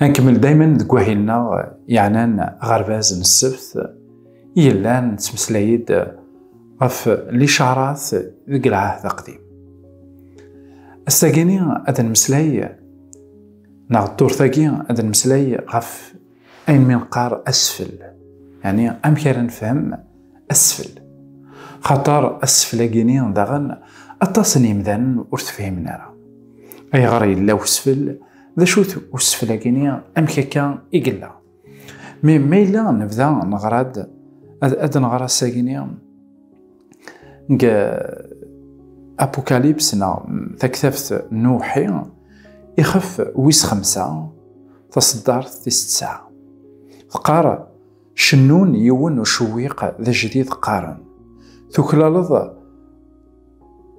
Nkemmel daymen deg wahil-nneɣ yeɛnan aɣerbaz n ssebt i yellan nettmeslay-d ɣef licarat deg lɛahd aqdim. Ass-agi-ni ad nmeslay neɣ ddurt-agi ad nmeslay ɣef ayen mi neqqar asfel, yani amek ara nefhem asfel. Xaṭer asfel-agi-ni daɣen aṭas n yimdanen ur tefhimen ara. Ayɣer yella usfel? D acu-t useflag-ini amek akka i yella? Mi ma yella nebda neɣra-d ad nɣer asag-ini deg Apocalypse neɣ taktabt n Uwḥi ixef wis xemsa taṣeddart tis tesɛa. Teqqar cennun yiwen ucewwiq d ajdid qqaren tuklaleḍ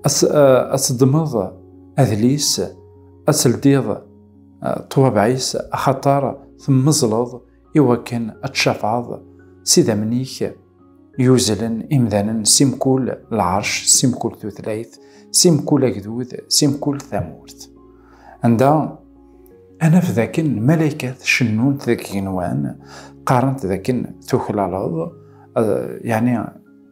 ad teddmeḍ adlis ad teldiḍ ṭwabeɛ-is axaṭer temmeẓleḍ i wakken ad tcafɛeḍ s idammen-ik yuzlen imdanen si mkul lɛerc si mkul tutlayt si mkul agdud si mkul tamurt anda anaf dakken lmalaykat cennunt deg igenwan qqarent dakken tuklaleḍ yani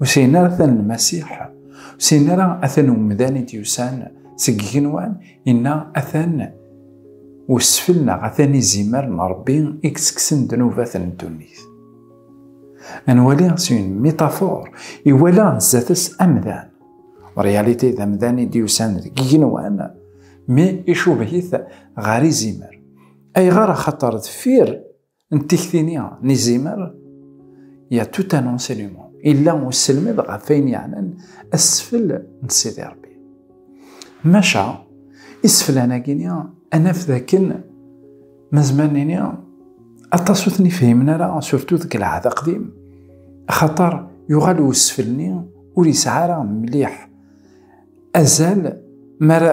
Ur sɛin ara atan Lmasiḥ, ur sɛin ara atan umdan i d-yusan seg igenwan, inna atan usfel neɣ atan izimer n Rebbi i yettekksen ddnubat n ddunit. Ad nwali s une métaphore, iwala zdat-s amdan. En réalité, d amdan i d-yusan deg igenwan, mi icubeh-it ɣer izimer. Ayɣer? Axaṭer deffir n tikti-nni n izimer ya tout un enseignement illa uselmed ɣef ayen yeɛnan asfel n Sidi Rebbi maca iseflan-agi-ni anaf d akken mazman-nni aṭas ur ten-ifhimen ara surtu deg lɛahd aqdim axaṭer yuɣal usfel-nni ur yesɛi ara mliḥ azal mara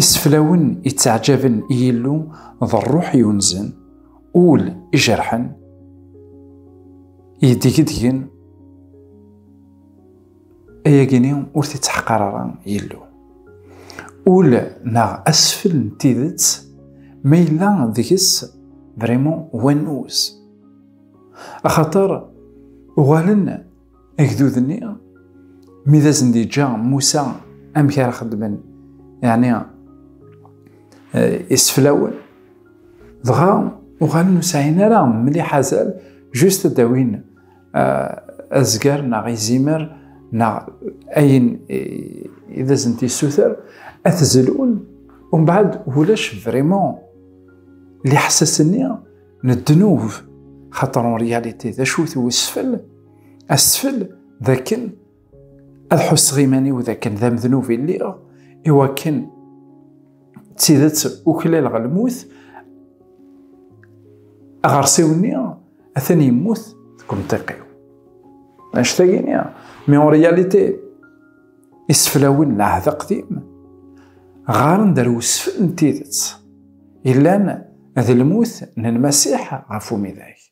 Iseflawen ittaɛjaben i Yillu d ṛṛuḥ yunzen, ul ijerḥen, yeddegdgen, ayagi-nni ur t-ittḥeqqar ara Yillu. Ul neɣ asfel n tidet ma yella deg-s vraiment wannuz. Axaṭer uɣalen agdud-nni mi d asen d-yeǧǧa Musa amek ara xedmen yeɛni iseflawen dɣa uɣalen ur sɛin ara mliḥ azal just ad d-awin azger neɣ izimer neɣ ayen i d asen t-issuter ad t-zelun umbeɛd ulac vraiment liḥsas-nni n ddnub xaṭer en réalité d acu-t wesfel asfel d akken ad ḥusseɣ iman-iw d akken d amednub i lliɣ i wakken d tidet uklaleɣ lmut aɣersiw-nni atan yemmut deg umtiq-iw anect-agini mi en réalité iseflawen n ɛehd aqdim ɣaren-d ar usfel n tidet yellan d lmut n lmasiḥ ɣef umidag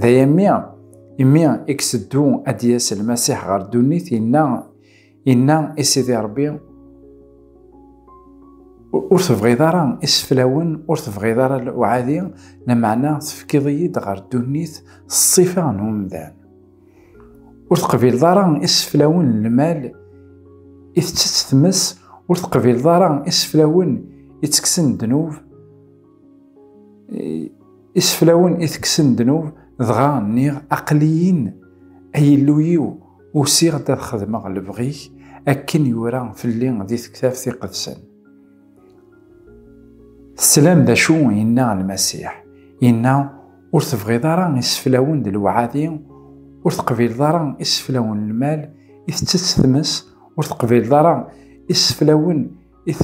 D ay ammi, imi i yeseddu ad d-yas Lmasiḥ ɣer ddunit, inna, inna i Sidi Rebbi, ur tebɣiḍ ara iseflawen, ur tebɣiḍ ara uɛadi, lameɛna tefkiḍ-iyi-d ɣer ddunit s ṣṣifa n umdan. Ur teqbileḍ ara iseflawen n lmal i tettett tmes, ur teqbileḍ ara iseflawen i ttekksen ddnub, Iseflawen i tekksen ddnub, dɣa nniɣ, Aql-iyin, ay Illu-iw, usiɣ-d ad xedmeɣ lebɣi-k, akken yura fell-i di Tektabt Iqedsen. Teslam d acu yenna Lmasiḥ? Yenna, Ur tebɣiḍ ara iseflawen d lewɛadi, ur teqbileḍ ara iseflawen n lmal, i tettett tmes, ur teqbileḍ ara iseflawen i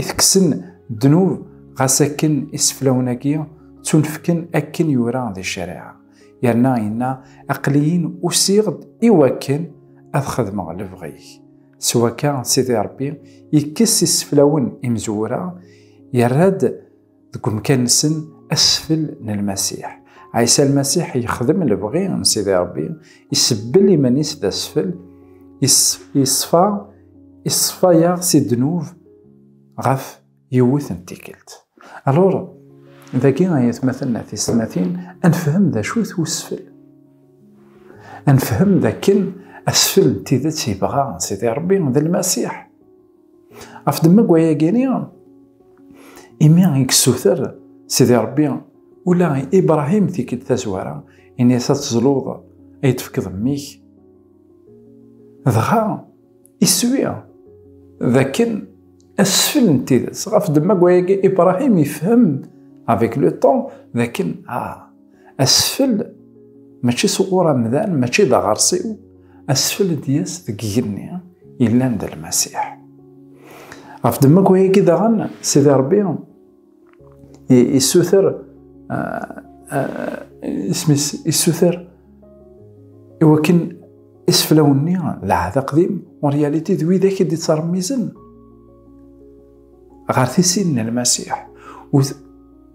teksen ddnub ɣas akken iseflawen-agi ttunefken akken yura di ccariɛa yerna yenna aqliyin usiɣ-d i wakken ad xedmeɣ lebɣi-k s wakka sidi rebbi yekkes iseflawen imezwura yerra-d deg umkan-nsen asfel n lmasiḥ ɛisa lmasiḥ yexdem lebɣi n sidi rebbi isebbel iman-is d asfel iṣfa iṣfa-yaɣ si ddnub ɣef yiwet n tikkelt alur dagi ay atmaten a tisetmatin ad nefhem d acu-t usfel ad nefhem d akken asfel n tidet yebɣa sidi rebbi d lmasiḥ Af demmag waya gini, imi i yessuter Sidi Rebbi ula i Ibrahim tikid tazwara, ini-as ad tezluḍ, ay d-tefkeḍ mmi-k. Dɣa, iswi d akken asfel n tidet. Ɣef demmag waya, Ibrahim ifhem avec le temps d akken ah, Asfel mačči s uɣur amdan, mačči d aɣersiw, asfel d-yas deg igenni yellan d lmasiḥ. Ɣef ddemma n wayagi daɣen, Sidi Rebbi issuter isem-is issuter i wakken iseflawen-nni d ɛahd aqdim en réalité d widak i d-ittṛemmizen ɣer tisin n lmasiḥ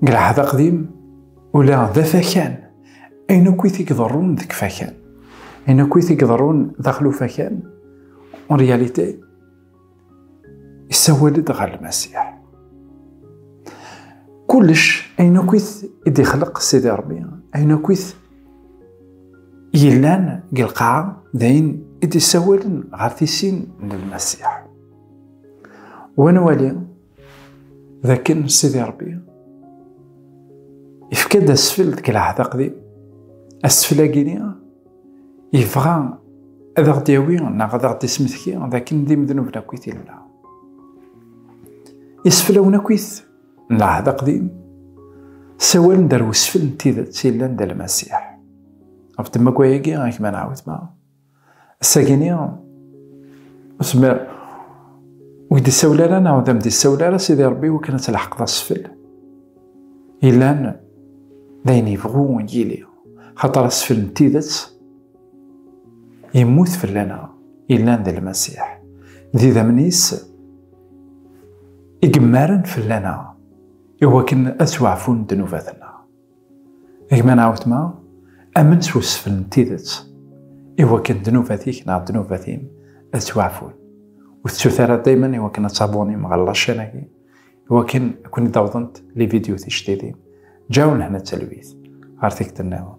Deg lɛehd aqdim, ula d afakan, ayen akk i t-iḍerrun deg fakan, ayen akk i t-iḍerrun daxel ufakan, en réalité, yessawal-d ɣer Lmasiḥ. Kullec, ayen akk i t-ixleq Sidi Ṛebbi, ayen akk i yellan deg lqaɛa, d ayen i d-yessawalen ɣer tisin n Lmasiḥ. Wa nwali, d akken Sidi Ṛebbi yefka-d asfel deg lɛahd aqdim asfel-agi-ni yebɣa ad aɣ-d-yawi neɣ ad aɣ-d-ismetki d akken d imednuben akk i t-illa iseflawen akk it n lɛahd aqdim sawalen-d ar wesfel n tidet yellan d almasiḥ ɣef temmagwa-agi ak ma nɛawed ma Assagini, usmer ur d-isawel ara neɣ d am-d-isawel ara Sidi Rebbi wakken ad tleḥqeḍ asfel. Ilan d ayen yebɣu yili, xaṭer asfel n tidet yemmut fell-aneɣ, ilan d Lmasiḥ. D idammen-is i yemmaren fell-aneɣ, i wakken ad ttwaɛfun ddnubat-nneɣ. Gma neɣ wetma, amen s usfel n tidet, i wakken ddnubat-ik neɣ ddnubat-im ad ttwaɛfun. Ur tettut ara daymen i wakken ad tabunim ɣer laccen-agi, i wakken ad ken-id-awḍent lividyu tijdidin. Ǧǧaw lehna d talwit ɣer tikkelt-nniḍen.